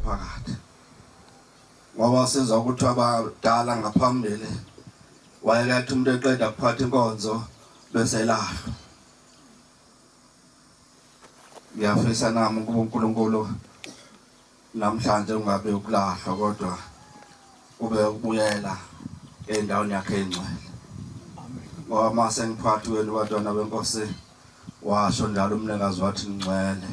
phakathi ngoba sizwa ukuthi abadala ngaphambili wayekathi umuntu eqeda kuphatha inkonzo bese lahlwa ngiyafisa nami ukuba uNkulunkulu Namhlanje kungabe ukulahlwa kodwa kube ukubuyela endaweni yakhe engcwele. Ngoba uma sengiphakathi kwenu bantwana benkosi washo njalo umnikazi wathi ngcwele.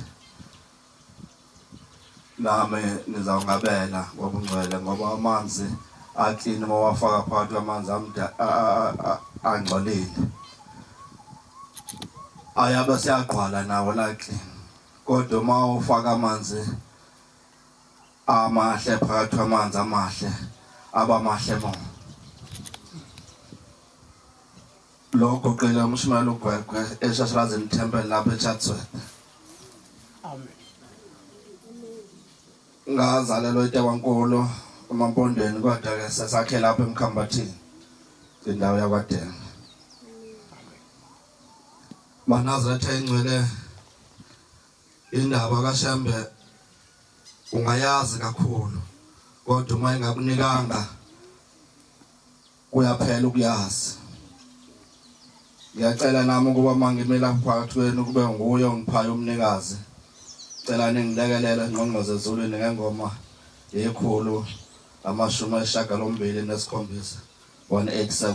Nami nizawungabela ngobungcwele ngoba amanzi aklini uma wafaka phakathi kwamanzi angcolile. Ayabe siyagqwala nawo la klini. Kodwa uma ufaka amanzi amahle phakathi kwamanzi amahle aba mahle mo lokho qela umshimela ugwegwe eshashalazini temple lapha echatsworth amen ngazalelwa eTewankulu emampondweni kodwa ke sesakhe lapha emkhambathini indawo yakwaDenga Manazetha ingcwele indaba kaShembe ungayazi kakhulu kodwa uma ingakunikanga kuyaphela ukuyazi ngiyacela nami ukuba mangimela phakathi kwenu kube nguye ongiphayo umnikazi cela ningilekelele ngqongqoze ezulwini ngengoma yekhulu amashumi ayishagalombili nesikhombisa 187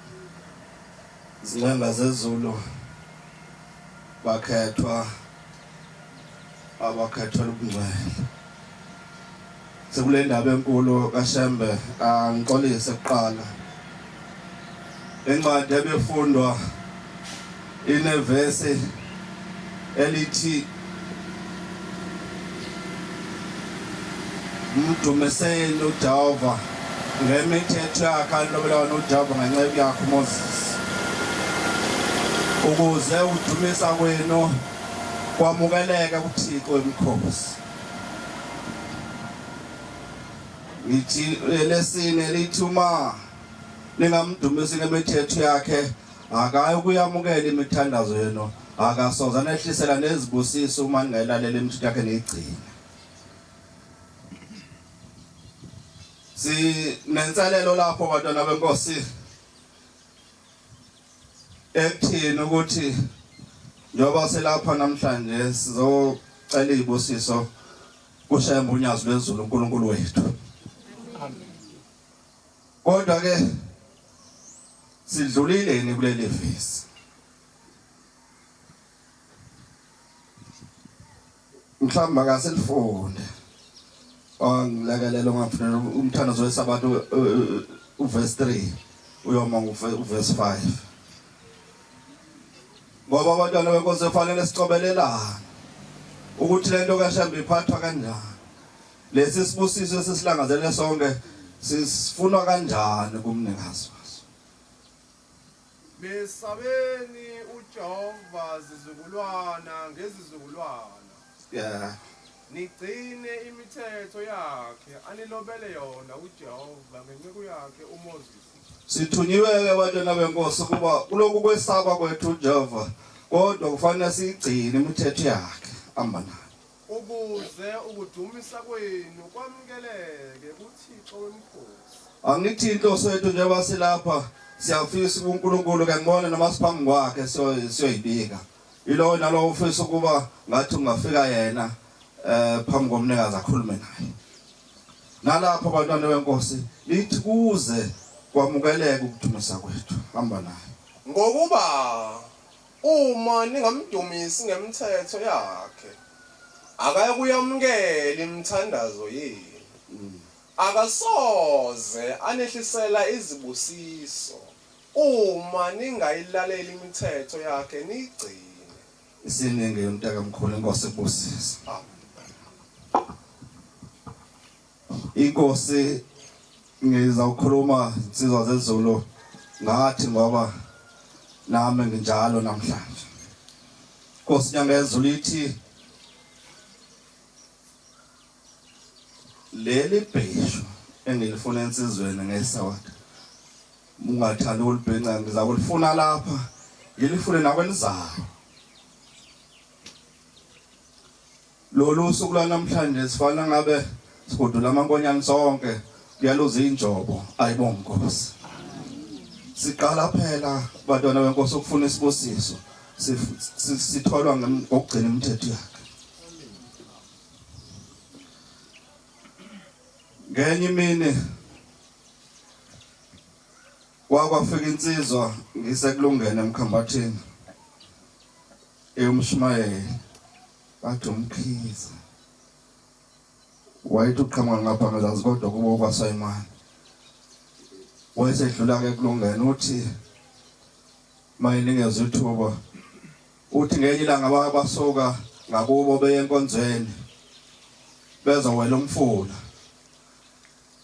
Izinqanda zezulu bakhethwa abakhethwa ubungcwele. Sekule ndaba enkulu kaShembe angixolise kuqala. Incwadi ebefundwa Inevesi elithi mdumiseni uJehova ngemithetho yakhe alobelayo noJehova ngenceku yakhe uMoses ukuze udumisa kwenu kwamukeleke kuThixo emkhosi ngithi lesine lithi uma ningamdumisi ngemithetho yakhe Akayi ukuyamukela imithandazo yenu, akasoze anehlisela nezibusiso uma ningayilalela imithetho yakhe niyigcine. Sinenselelo lapho bantwana benkosi ekuthini ukuthi njengoba selapha namhlanje sizocela izibusiso kushembe unyazi lwezulu uNkulunkulu wethu. Amen. Kodwa ke sidlulile ni kuleli vesi. Mhlawumbe akaselifunde. Angilekelela ungafunela umthandazo wesabatha uverse 3 uyoma uverse 5. Ngoba abantwana benkosi kufanele sicobelelane ukuthi lento kaShembe iphathwa kanjani. Lesi sibusiso esisilangazelele sonke sisifunwa kanjani kumnikazi waso? Mesabeni uJehova zizukulwana ngezizukulwana. Yeah. Nigcine imithetho yakhe anilobele yona uJehova ngenceku yakhe uMoses. Sithunyiwe-ke bantwana benkosi ukuba kulokhu kwesaba kwethu uJehova kodwa kufanele siyigcine imithetho yakhe amba nayo. Ukuze ukudumisa kwenu kwamukeleke kuThixo wemikhosi. Angithi inhloso yethu njengoba silapha siyafisa uNkulunkulu ke ngibone noma siphambi kwakhe siyoyibika. Ilowo nalowo ufisa ukuba ngathi ungafika yena eh phambi komnikazi akhulume naye. Nalapho bantwana benkosi lithi kuze kwamukeleke ukudumisa kwethu hamba naye. Ngokuba Uma ningamdumisi ngemthetho yakhe, akayokuyamukela imithandazo yenu. Akasoze anehlisela izibusiso uma ningayilaleli imithetho yakhe niyigcine. Isiningi mntakamkhulu, iNkosi ikubusise. Amen. Inkosi ngizawukhuluma insizwa zezulu ngathi ngoba nami nginjalo namhlanje. Inkosi nyanga yezulu ithi leli bheshu engilifuna ensizweni ngesawada ungathanda ukulibhenca ngiza kulifuna lapha ngilifune nakwenizayo Lolu suku lwanamhlanje sifana ngabe sigudula amankonyane sonke kuyaluza injobo ayibo nkosi siqala phela bantwana benkosi ukufuna isibusiso sitholwa ngokugcina imithetho yakhe ngenye imini kwakwafika insizwa ngisekulungene emkhambathini eyomshumayeli Bathi umkhize wayethi uqhamuka ngapha ngezansi kodwa kubo kwaSayimane wayesedlula ke kulungena uthi mayiningezwe ithuba uthi ngenye ilanga basuka ngakubo beye enkonzweni bezowela umfula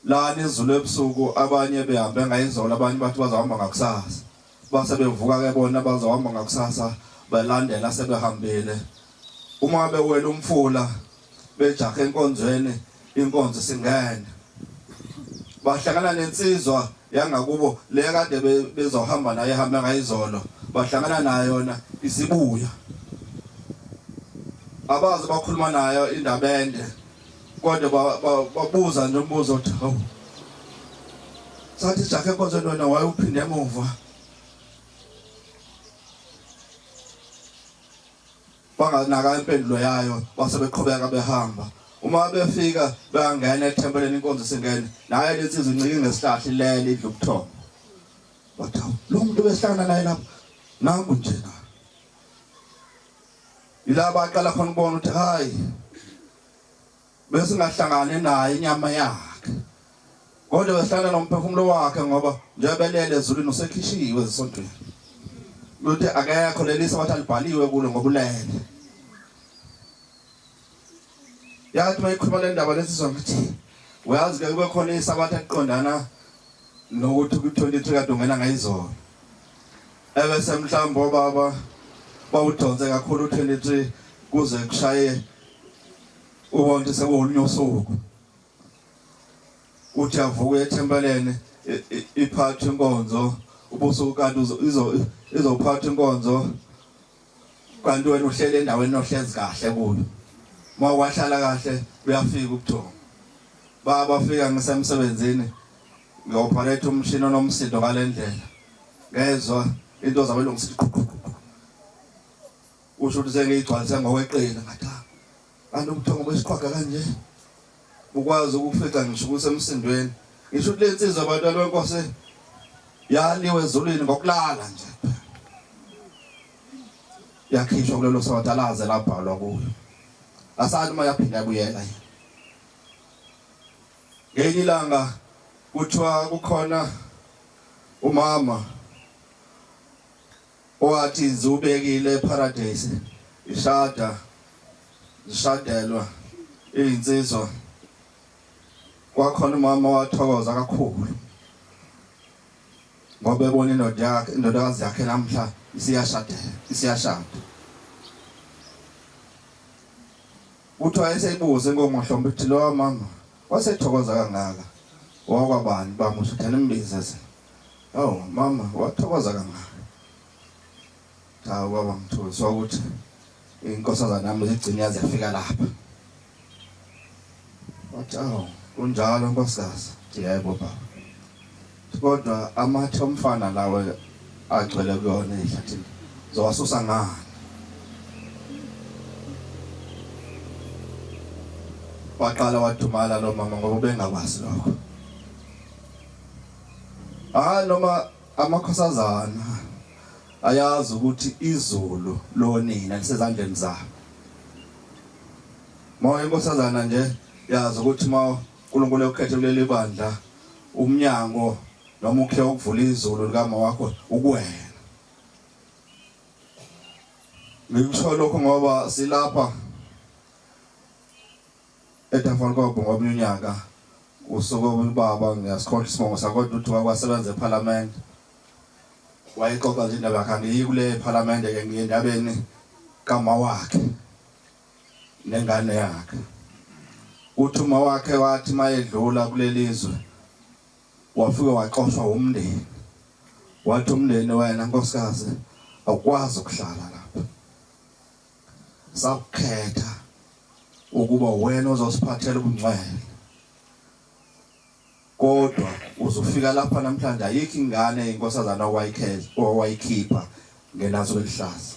lana izulu ebusuku abanye behambe ngayizolo abanye bathi bazohamba ngakusasa base bevuka ke bona bazohamba ngakusasa balandela sebehambile uma bewela umfula bejahe enkonzweni inkonzo singene bahlangana nensizwa yangakubo le kade bezohamba naye hambe ngayizolo bahlangana nayo yona isibuya abazi bakhuluma nayo indaba ende kodwa babuza nje umbuzo ukuthi hawu sathi ijakhe enkonzweni wena wayewuphinde emuva banganaka impendulo yayo base beqhubeka behamba uma befika bangena ethempeleni inkonzo singene naye lensizwa incike ngesihlahla ilele idla ubuthongo bathi lo muntu behlangana naye lapho nangu nje na ila baqala khona ukubona ukuthi hayi besingahlangane naye inyama yakhe kodwa behlala nomphefumulo wakhe ngoba njengoba elele ezulwini usekhishiwe ezisontweni luthi akekho lelisa wathi alibhaliwe kulo ngokulele yathi uma ikhuluma le ndaba lesi sonke ukuthi uyazi ke kube khona isabatha eqondana nokuthi kwi-23 kade ungena ngayizolo ebese mhlawumbe obaba bawudonse kakhulu u-23 kuze kushaye ubona ukuthi sekuwolunye usuku uthi avuke ethempeleni iphathe inkonzo ubusuku kanti izophatha inkonzo kanti wena uhlele endaweni ohlezi kahle kuyo uma wahlala kahle uyafika ubuthongo baba fika ngisemsebenzini ngiyoperate umshini onomsindo ngalendlela ngezwa into zabe lungisiqhuqhuqhu usho ukuthi sengiyigcwalise ngokweqile ngathi Kanti ubuthongo besiqhwaga kanje ukwazi ukufica ngisho ukuthi emsindweni ngisho ukuthi lensizwa abantu alwenkosi yaliwe ezulwini ngokulala nje yakhishwa kulelo soda laze labhalwa kuyo asali uma yaphinda kuyela ngelinye ilanga kuthiwa kukhona umama Wathi ngiwubekile eParadise ishada lishadelwa izinsizwa kwakhona umama wathokoza kakhulu ngoba ebona indoda yakhe indodakazi yakhe namhla isiyashada isiyashada uthi wayeseyibuza inkomo hlombe ukuthi lowa mama wasethokoza kangaka wakwabani bamusho thana imbiza Awu mama wathokoza kangaka. Cha baba mthuli sokuthi inkosazana nami zigcine yaze yafika lapha. Wathi awu kunjalo nkosikazi. Yebo baba. Kodwa amathe omfana lawe agcwele kuyona ehlathini. Zowasusa ngani? Waqala wathumala lo mama ngoba bengakwazi lokho. hayi noma amakhosazana ayazi ukuthi izulu lonina lisezandleni zabo moya inkosazana nje yazi ukuthi ma uNkulunkulu ekhethe kuleli bandla umnyango noma ukhe ukuvula izulu likama wakho ukuwena ngikusho lokho ngoba silapha Etafolkobo ngomunye unyaka usuke ubaba ngiyasikhohlwa isibongo sakodwa uthi wakwasebenza ephalamende wayexoxa nje indaba yakhe angiyi kule phalamende ke ngiye endabeni kama wakhe nengane yakhe uthi uma wakhe wathi mayedlula kuleli zwe wafike waxoshwa umndeni wathi umndeni wena nkosikazi awukwazi ukuhlala la sakukhetha ukuba wena ozosiphathela ubungcwele kodwa uzofika lapha namhlanje ayikho ingane inkosazana owayikhela owayikhipha ngelazo elihlaza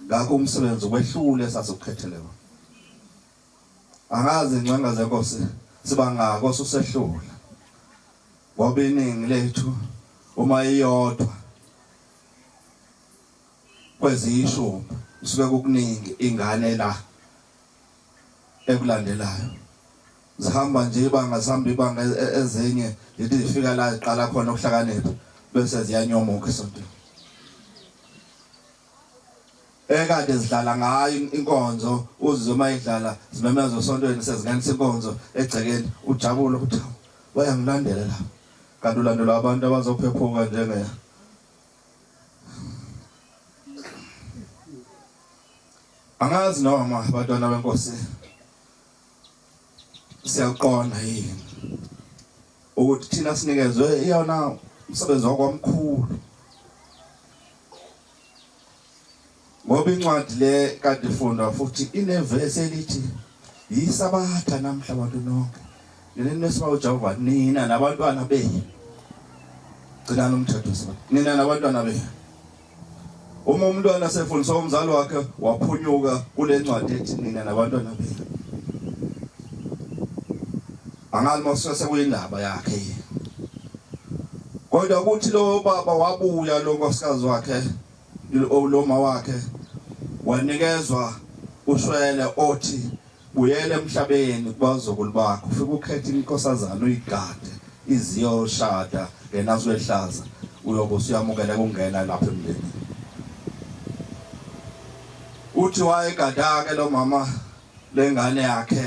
ngakho umsebenzi wehlule sasikukhethele wona angazi ingcanga zenkosi sibangako susehlula ngoba iningi lethu uma iyodwa kweziyishumi kusuke kukuningi ingane la ekulandelayo zihamba nje ibanga zihamba ibanga e-, e-, ezinye yithi zifika la ziqala khona ukuhlakanipha bese ziyanyomuka esontweni ekade zidlala ngayo inkonzo uzizwe uma idlala zimemeza osontweni sezingenisa inkonzo egcekeni ujabule ukuthi wayangilandela lapho kanti ulandelwa abantu abazophephuka njengeye angazi noma abantwana benkosi siyakuqonda yini ukuthi thina sinikezwe iyona umsebenzi wakwamkhulu Ngoba incwadi le kade ifundwa futhi inevesi elithi yisabatha namhla abantu nonke. Ngeneni mesiba uJehova nina nabantwana benu. Gcinani umthetho sabatha. Nina nabantwana benu. Uma umntwana sefundisa umzali wakhe waphunyuka kule ncwadi ethi nina nabantwana benu. Angazi mase sekuyindaba yakhe yini. Kodwa ukuthi lo baba wabuya lo nkosikazi wakhe Loma wakhe wanikezwa ushwele othi buyele emhlabeni kubazukulu bakho ufike ukhethe inkosazana uyigade iziyoshada yena siwehlaza uyobe usuyamukele kungena lapha emndenini uthi wayegadake lo mama lengane yakhe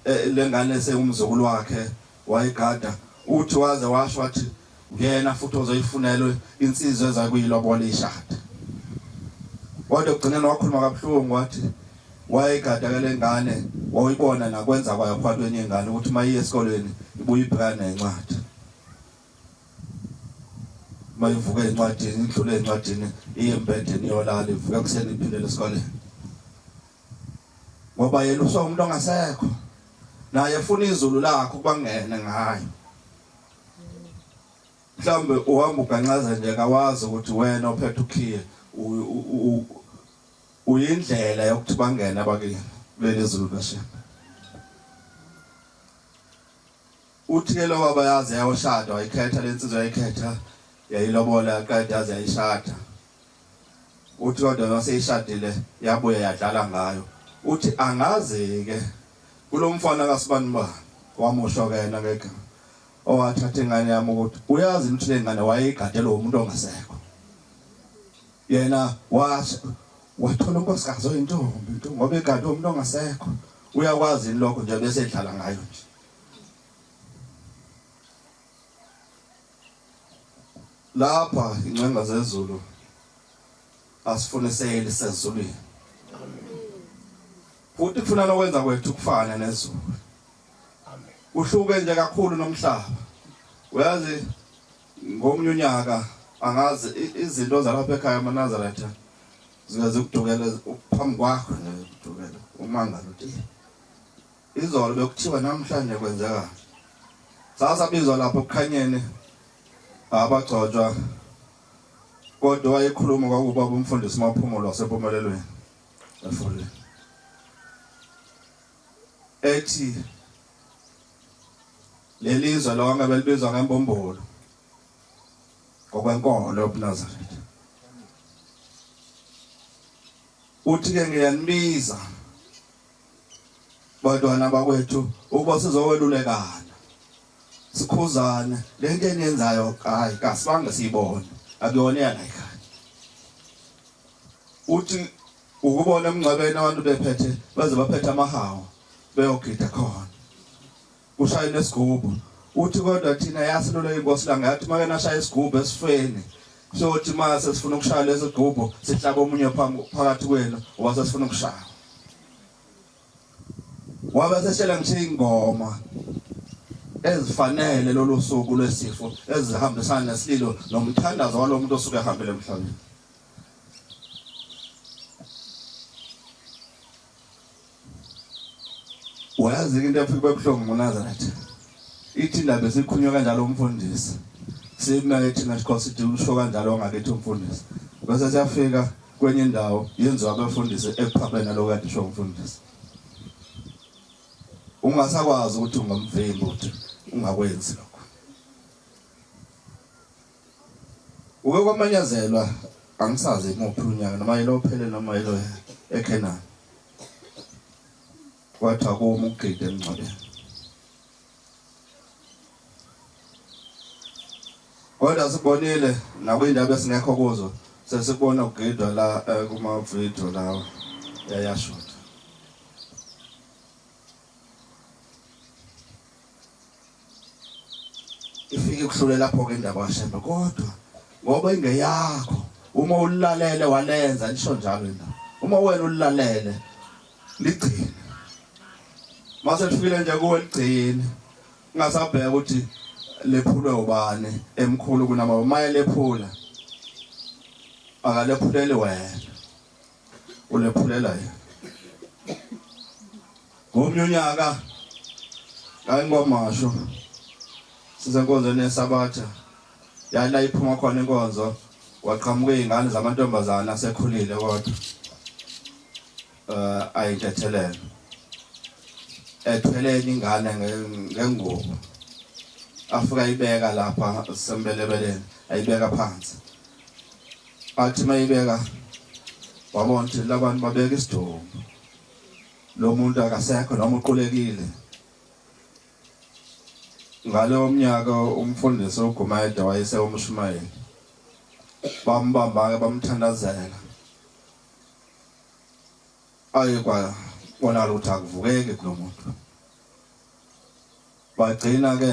eh, lengane sewumzukulu wakhe Wayigada uthi waze washo wathi ngena futhi ozoyifunelwe insizwa ezakuyilobola ishada. Kodwa ugcine nowakhuluma kabuhlungu wathi wayegada ke lengane wayibona nakwenza kwayo phakathi kwenye ingane ukuthi mayiye esikolweni ibuye ibhekane nencwadi mayivuke encwadini idlule encwadini iye embedeni iyolala ivuke kuseni iphindele esikoleni ngoba yena usomuntu ongasekho naye efuna izulu lakho kubangene ngayo mhlawumbe uhamba uganxaza nje kawazi ukuthi wena ophethe ukhiye uyindlela yokuthi bangene abakini kuleli zulu kashembe Uthe lo baba yaze yayoshada wayikhetha le nsizwa yayikhetha yayilobola yaqeda yaze yayishada. Uthi kodwa maseyishadile yabuya yadlala ngayo. Uthi angazi-ke kulo mfana kasibani bani wamusho ke yena ngeke owathatha ingane yami ukuthi uyazi ukuthi le ngane wayeyigadele umuntu ongasekho yena washo wathola unkosikazi oyintombi ngoba egade umuntu ongasekho uyakwazi lokho nje bese edlala ngayo nje lapha incenga zezulu asifuniseli sezulwini futhi kufuna lokwenza kwethu kufane nezulu uhluke nje kakhulu nomhlaba uyazi ngomunye unyaka angazi izinto zalapha ekhaya amaNazaretha zikaze ukudukela phambi kwakho nje ukudukela umangalo uthi Izolo bekuthiwa namhlanje kwenzeka. Sasa bizwa lapho kukhanyeni abagcotshwa kodwa wayekhuluma kwakuba umfundisi maphumulo wasempumelelweni efuleni ethi lelizwe lonke belibizwa ngembumbulu ngokwenkolo yobuNazaretha uthi-ke ngiyanibiza bantwana bakwethu ukuba sizokwelulekana sikhuzane lento eniyenzayo hayi kasibange siyibone akuyona eyala ekhaya uthi ukubona emngcwabeni abantu bephethe baze baphethe amahawu beyogida khona kushayile isigubhu uthi kodwa thina yasilula inkosi la ngathi make nashaya isigubhu esifeni sothi ma sesifuna ukushaya lezi gubhu sihlaba omunye phakathi kwenu wase sifuna ukushaya wabe seshela ngisho ingoma ezifanele lolu suku lwesifo ezihambisana nesililo nomthandazo walomuntu osuke ehambile emhlabeni wayazi into efika bebuhlungu ngoNazaretha ithi indaba esikhunywe kanjalo umfundisi siyimele thina sikho sithi usho kanjalo wangakithi umfundisi bese siyafika kwenye indawo yenziwa abefundisi ekuphambene naloko kade usho umfundisi ungasakwazi ukuthi ungomvimbi ukuthi ungakwenzi lokho Uke kwamanyazelwa angisazi imuphi unyaka noma yilophele noma yilo eKenani. Wathi akuma ukugida emngcwabeni. Kodwa sibonile nakwindaba esingekho kuzo sesibona ukugidwa la eh, kuma video lawa yayashuta. ifike kuhlule lapho ke indaba kaShembe kodwa ngoba ingeyakho uma ulalele walenza nisho njalo indaba uma wena ulalele ligcine mase lifikile nje kuwe ligcine ungasabheka ukuthi lephulwe ubani emkhulu kunama uma elephula akalephuleli wena ulephulela yena ngomnye unyaka ngayingwamasho sisenkonzweni yesabatha yala iphuma khona inkonzo waqhamuka izingane zamantombazana asekhulile kodwa eh ayintethelele ethwele ingane ngengubo afika ibeka lapha sembelebeleni ayibeka phansi athi mayibeka wabona ukuthi labantu babeka isidumbu lo muntu akasekho noma uqulekile ngalowo mnyaka umfundisi uGumayede wayese umshumayeli bambamba-ke bamthandazela aye kwabonakala ukuthi akuvukeki kulo muntu bagcina-ke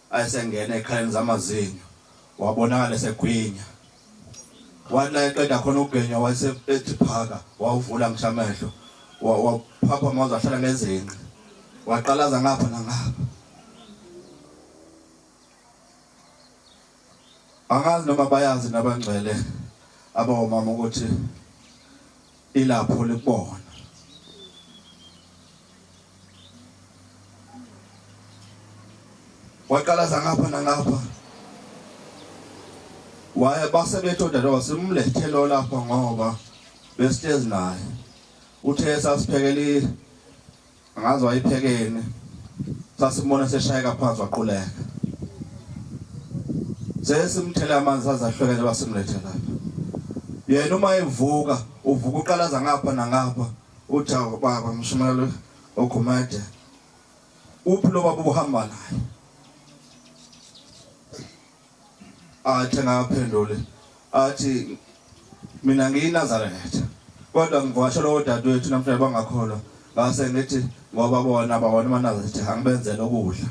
Ayesengena ekhaleni zamazinyo wabonakala esegwinya. Wathi la eqeda khona ukugenya wase ethi phaka wawuvula ngisho amehlo waphapha amazi ahlala ngezinqe waqalaza ngapha nangapha. Angazi noma bayazi nabangcwele abawomama ukuthi Ilapho likubona. waqalaza ngapha nangapha waye base bethu odadewabo simlethe lo lapha ngoba besihlezi naye uthe sasiphekele angazi wayephekeni sasimbona seshayeka phansi waquleka sesimthele amanzi sazahlukene basimlethe lapha yena uma evuka uvuka uqalaza ngapha nangapha uthi baba mshumayelo ogumede uphi lo baba ubuhamba naye athi ngaphendule athi mina ngiyinazaretha kodwa ngivasha lowo dadewethu namhlanje bangakholwa ngase ngithi ngoba bona bawona amanazaretha angibenzele ukudla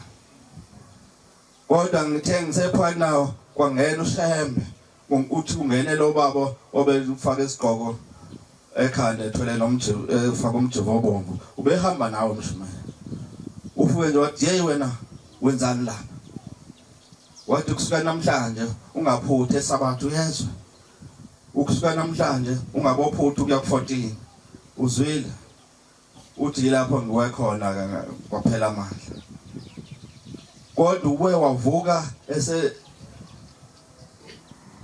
kodwa ngithe ngisephakathi nawo kwangena ushembe uthi ungene lo baba obefaka isigqoko ekhanda ethwele nomjivu efaka umjivu obomvu ubehamba nawe mshumayeli ufuke nje wathi yeyi wena wenzani lapha Wathi kusuka namhlanje ungaphuthi esabatha uyezwa. Ukusuka namhlanje ungabophuthi ukuya ku-14. Uzwile? Uthi yilapho ngiwe khona kwaphela amandla. Kodwa ubuye wavuka ese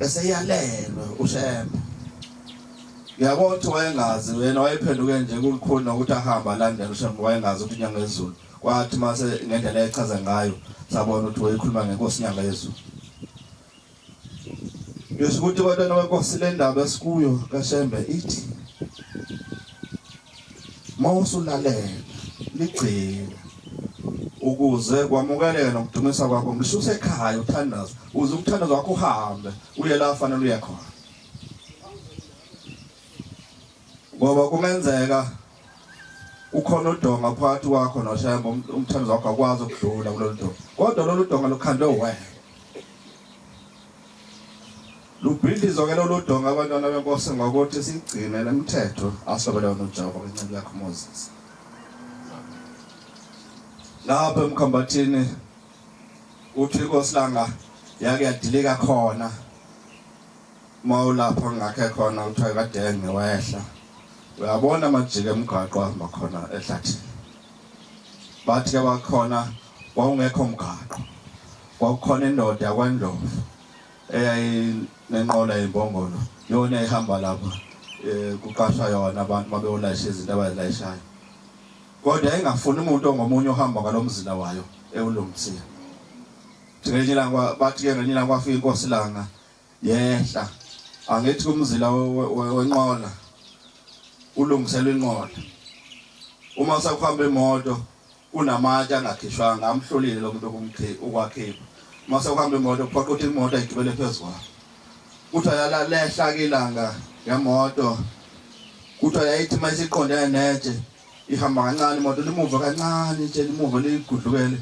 eseyalelwe uShembe yabo uthi wayengazi wena wayephenduke nje kulikhulu nokuthi ahamba alandela uShembe wayengazi ukuthi inyanga ezulu Kwathi mase ngendlela echaza ngayo sabona ukuthi wayekhuluma ngenkosi inyanga yezulu. Ngisho ukuthi kodwa nokwenkosi le ndaba esikuyo kaShembe ithi mawusulalela ligcina ukuze kwamukeleke nokudumisa kwakho ngisho usekhaya uthandaza uze umthandazo wakho uhambe uye la fanele uye khona ngoba kungenzeka ukhona udonga phakathi kwakho noshemba um-, umthandazo wakho akwazi ukudlula kulolu donga kodwa lolu donga lukhandwe uwena lubhidlizwa ke lolu donga abantwana benkosi ngokuthi sigcine le mthetho asobele wona ujehova kwenceku yakho moses lapho emkhambathini uthi inkosi langa yake yadilika khona uma ulapho ngakhe khona kuthiwa kadenge wehla uyabona amajika emgaqo ahamba khona ehlathini bathi ke bakhona wawungekho mgaqo kwakukhona indoda yakwandlovu eyayinenqola yembongolo yona ehamba lapha eh, kuqashwa yona abantu babeyolayisha izinto abazilayishayo kodwa engafuni umuntu ongomunye ohamba ngalomzila wayo ewulungisiwe ngelinye ilanga bathi ke ngelinye ilanga kwafika inkosi langa yehla angithi kumzila wenqola ulungisela inqola uma usakuhamba imoto kunamatshe angakhishwanga amhlulile lo muntu ukwakhipha uma sekuhamba imoto kuphoqa ukuthi imoto ayigibele phezu kwayo kuthiwa yalalehla kilanga yemoto kuthiwa yayithi uma isiqonde netshe ihamba kancane imoto limuva kancane itshe limuva ligudlukele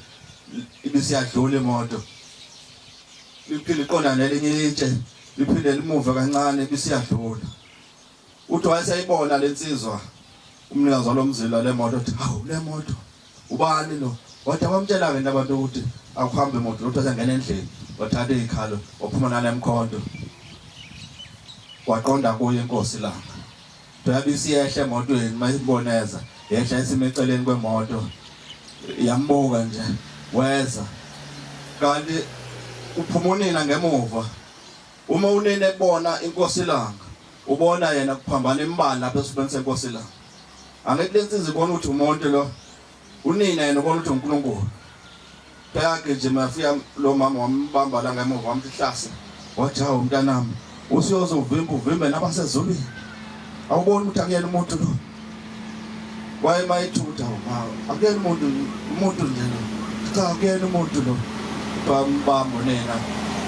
ibisiyadlula imoto liphinde iqondana nelinye itshe liphinde limuve kancane bisiyadlula uthi wayeseyibona lensizwa umnikazi walomzila lemoto uthi hawu lemoto ubani lo wathi abamtshela ke nabantu ukuthi akuhambe imoto lothu asengena endlini wathatha izikhalo waphuma nalemkhonto waqonda kuye inkosi langa Dabi siyehla emotweni mayibona eza yehla isime eceleni kwemoto yambuka nje weza kanti uphuma unina ngemuva uma unina ebona inkosi ilanga ubona yena kuphambana imbala lapha esifubeni senkosi ilanga angithi lensiza ibona ukuthi umuntu lo Unina yena ubona ukuthi uNkulunkulu bayagijima yafika lo mama wambamba la ngemuva wamhlasa wathi hawu mntanami usiyoze uvimbe uvimbe nabasezulwini awuboni ukuthi akuyena umuntu lo waye mayithutha hawu akuyena umuntu umuntu nje lo cha akuyena umuntu lo bambambo nina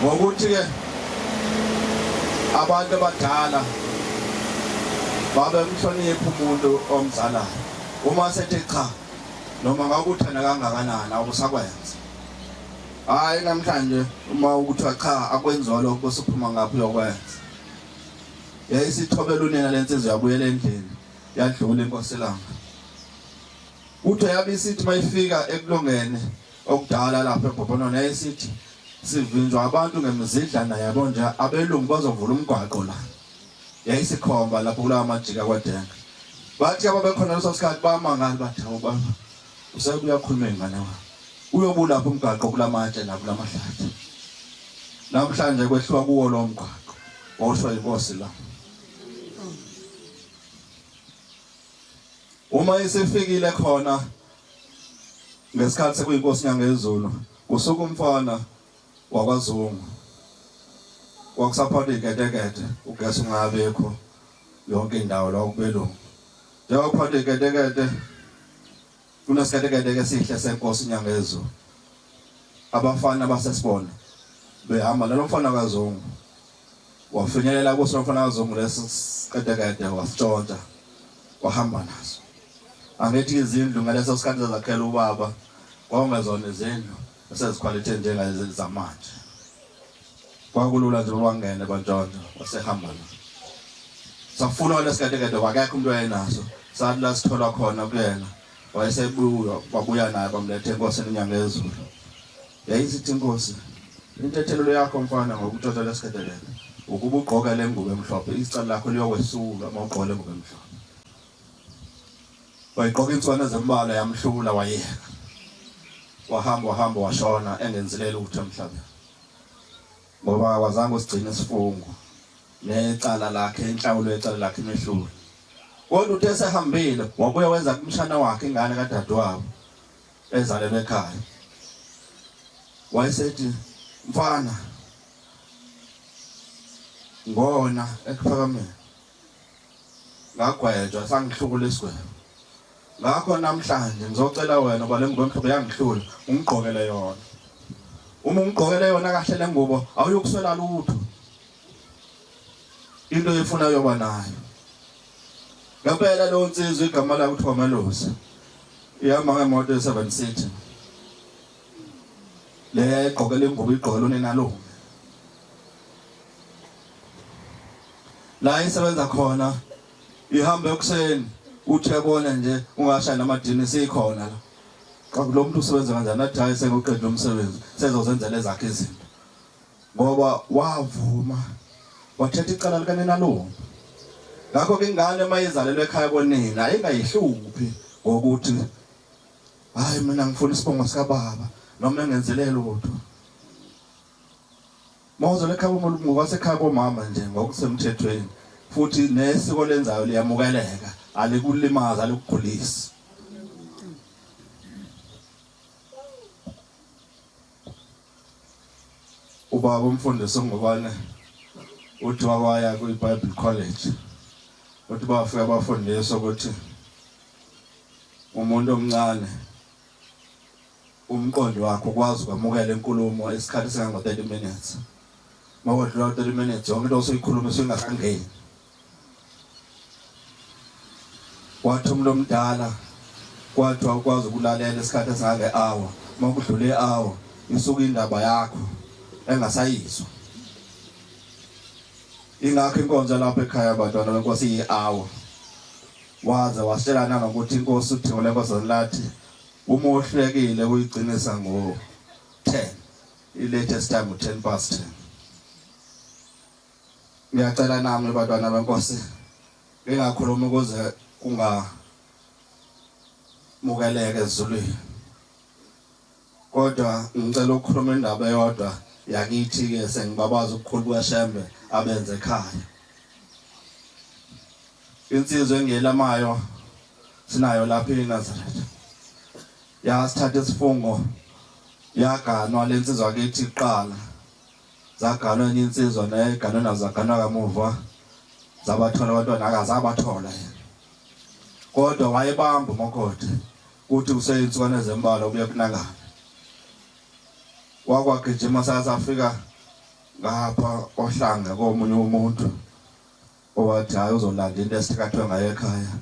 ngokuthi-ke abantu abadala babemhlonipha umuntu omzalayo Uma sethe cha noma ngakuthanda kangakanani awusakwenza. Hayi namhlanje uma ukuthiwa cha akwenziwa lokho bese uphuma ngaphi uyokwenza. Yayisithobela unina lensizwa yabuyela endlini yadlula inkosi langa. Uthe yabe isithi mayifika ekulongene okudala lapha eBhobonona yayisithi sivinjwa abantu ngemizidlana yabo nje abelungu bazovula umgwaqo la yayisikhomba lapho kulawa majika kwadenga bathi ababekhona leso sikhathi bamangali bathi hawu baba usebuya khuluma ingane wakho uyobulapha umgaqo kulamatshe nakulamadladi namhlanje kwehliwa kuwo lo mgaqo wawusho inkosi la uma isifikile khona ngesikhathi sekuyinkosi nyangezulu kusuka umfana wakwaZungu kwakusaphonda iketekete ugesi ungabikho yonke indawo la kubelungu njengoba kuphonda iketekete kunesiketekete esihle senkosi inyanga yezulu abafana basesibona behamba nalo mfana kaZungu wafinyelela kuso mfana kaZungu lesi siketekete wasitshontsha wahamba naso angithi izindlu ngaleso sikhathi zakhela ubaba kwawungezona izindlu esezikhwalithe njengalezi zamanje kwakulula nje wangene kwantshontsho wasehamba la safuna wale siketekete wakekho umuntu oyenaso sathi la sithola khona kuyena wayesebuya wabuya naye bamlethe enkosini inyanga ezulu yayisithi inkosi intethelelo yakho mfana ngokutshotshwa lesiketekete ukuba ugqoke le ngubo emhlophe icala lakho liyokwesulwa uma ugqoke le ngubo emhlophe Wayigqoka inswana ezimbalwa yamhlula wayeka. Wahamba wahamba washona engenzile lutho emhlabeni. Ngoba wazange usigcine isifungo necala lakhe inhlawulo yecala lakhe imehlule. Kodwa uthe sehambile wabuya wenza kumshana wakhe ingane kadadewabo ezalelwe ekhaya. Wayesethi mfana ngona ekuphakameni ngagwetshwa sangihlukula isigwebo ngakho namhlanje ngizocela wena uba le ngubo emhlophe yangihlula ungigqokele yona uma ungigqokele yona kahle le ngubo awuyokuswela lutho into efuna yoba nayo ngempela lo nsizwa igama lakhe kuthiwa malusi ihamba ngemoto ye-seven city le egqokele ingubo igqokele unenalungu la esebenza khona ihamba ekuseni uthe bona nje ungashaya namadini sikhona la qaku lo muntu usebenza kanjani athi hayi sekuqedwe umsebenzi sezozenzela ezakhe izinto ngoba wavuma wathetha icala likanenalomo ngakho ke ingane mayizalelwe ekhaya konina ayingayihluphi ngokuthi hayi mina ngifuna isibongo sikababa noma engenzelelo kodwa Mawuzela ekhaya umuntu ngokwasekhaya komama nje ngokusemthethweni futhi nesiko lenzayo liyamukeleka alikulimaza alikukhulisi ubaba umfundisi ongubane uthi wawaya kwi-bible college uthi bafika bafundiswa ukuthi umuntu omncane umqondo wakho ukwazi ukwamukela inkulumo isikhathi esingango 30 minutes mawodlula 30 minutes yonke into osoyikhuluma isingakangeni wathi umuntu omdala kwathiwa ukwazi ukulalela isikhathi esingange hour makudlule hour isuka indaba yakho engasayizwa ingakho inkonzo lapha ekhaya abantwana benkosi yi-hour waze wasitshelana ngokuthi inkosi uthingule nkosi lathi Uma uhlekile uyigcinisa ngo 10. I latest time 10 past 10. Ngiyacela nami bantwana benkosi ngingakhuluma ukuze kunga mukeleke ezulwini. Kodwa ngicela ukukhuluma indaba eyodwa yakithi ke sengibabaza ukukhulu kweshembe abenze ekhaya. Insizwe engelamayo sinayo lapha eNazaretha yasithatha isifungo yaganwa lensizwa kithi iqala zaganwa enye insizwa naye ganwe nazo zaganwa kamuva zabathola abantwana akazabathola yena kodwa wayebamba umakoti kuthi kuseyintsukwana ezembalwa kuye kunakana wakwagijima sasafika ngapha ohlanga komunye umuntu owathi hhayi uzolanda into esithakathwe ngayo ekhaya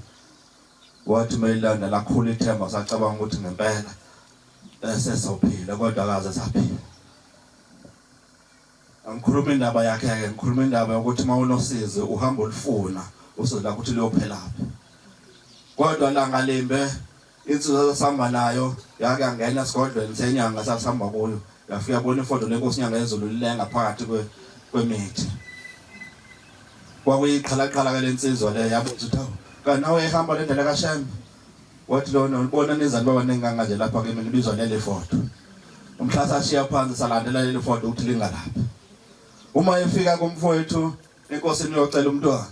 wathi uma ilanda lakhula ithemba sacabanga ukuthi ngempela esesophila kodwa akaze saphila angikhuluma indaba yakhe-ke ngikhuluma indaba yokuthi uma unosizi uhamba olufuna usizi lakho ukuthi luyophela phi kodwa langa limbe Insizwa sasihamba nayo yake yangena esigodlweni senyanga sasihamba kuyo yafika bona ifodo lenkosi inyanga yezulu lilenga phakathi kwemithi kwakuyiqhalaqhala ke lensizwa le yabuza ukuthi awu kanawe ehamba le ndlela kashembe wathi lona ulibona nizani baba nenganga nje lapha kimi nibizwa leli fodo umhla sashiya phansi salandela leli fodo ukuthi lingalaphi uma efika kumfowethu enkosini uyocela umntwana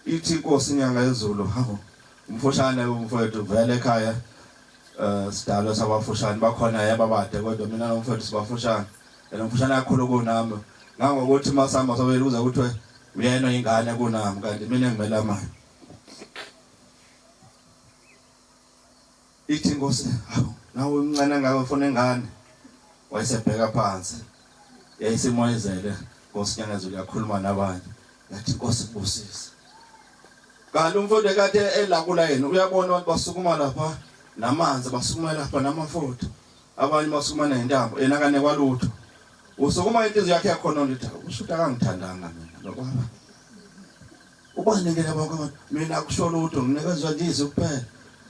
Ithi inkosi inyanga yezulu hawu umfushane umfowethu vele ekhaya eh sidalo sabafushane bakhona yaba bade kodwa mina nomfowethu sibafushane yena umfushane kakhulu kunami ngangokuthi masamba sobele kuze kuthiwe uyena ingane kunami kanti mina ngimela manje Ithi inkosi, hawu nawe umncane ngawe ufuna ingane. Wayesebheka phansi. Yayisimoyizele Nkosi Nyangazulu yakhuluma nabanye. Yathi inkosi kubusise. Kanti umfundi kade elakula yena uyabona abantu basukuma lapha namanzi basukuma lapha namafutha. Abanye basukuma nentambo yena kane kwalutho. Usukuma inhliziyo yakhe yakhona nje usho ukuthi akangithandanga mina lokwaba. Ubanikele bonke mina kusho lutho nginikezwa nje izwi kuphela.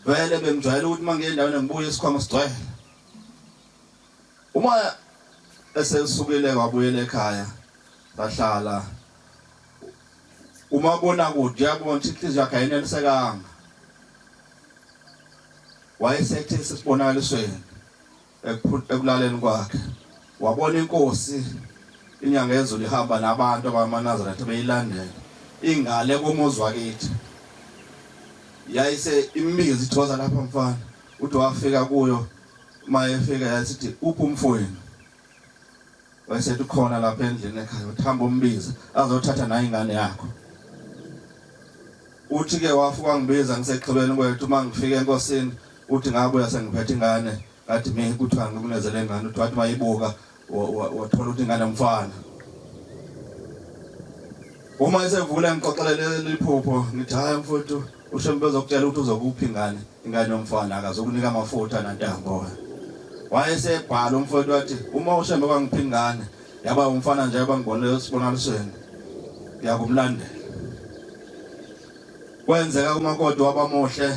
Vele bengijwayele ukuthi uma ngiye endaweni ngibuye isikhwama sigcwele. Uma esesukile wabuyela ekhaya bahlala uma bona kude yabona ukuthi inhliziyo yakhe ayinelisekanga wayesethe sesibonakalisweni Ekulaleni kwakhe wabona inkosi inyanga yezulu ihamba nabantu abamanazaretha beyilandela ingale komuzi wakithi yayise imbizi ithoza lapha mfana uthi wafika kuyo uma efika yasithi uphi umfowenu wayesethi khona lapha endlini ekhaya uthi hamba umbiza azothatha nayo ingane yakho uthi ke wafa kwangibiza ngisexhibeni kwethu uma ngifika enkosini uthi ngabuya sengiphethe ingane ngathi mina kuthiwa ngikunezele ingane uthi wathi mayibuka wathola ukuthi ingane mfana uma esevula ngixoxelele liphupho ngithi hayi mfowethu Usho bezokutshela ukuthi uzokuphi ingane ingane yomfana akazokunika amafutha nantambo. Wayesebhala umfowethu wathi uma ushembe kwangiphi ingane yaba umfana nje abangibonile esibonakalisweni ngiyakumlandela. Kwenzeka umakoti wabamuhle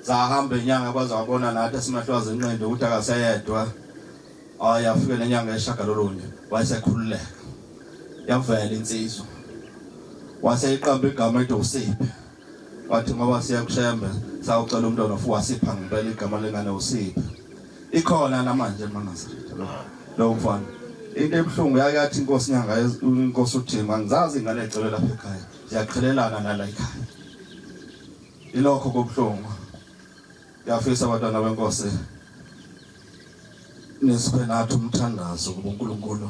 sahamba inyanga kwaze wabona nathi esimahlwazi inqindi ukuthi akaseyedwa ayafike nenyanga eshagalolunye wayesekhululeka yavela insizwa waseyiqamba igama ethi usiphi Wathi ngoba siya kushembe sawucela umntwana futhi wasipha ngempela igama lengane usiphe. Ikhona namanje eMangazaretha lo. Lo mfana. Into ebuhlungu yakathi inkosi nyanga inkosi uThima ngizazi ingane ecelwe lapha ekhaya. Siyaqhelelana nala ekhaya. Ilokho kobuhlungu. Yafisa abantwana benkosi nisiphe nathi umthandazo kuNkulunkulu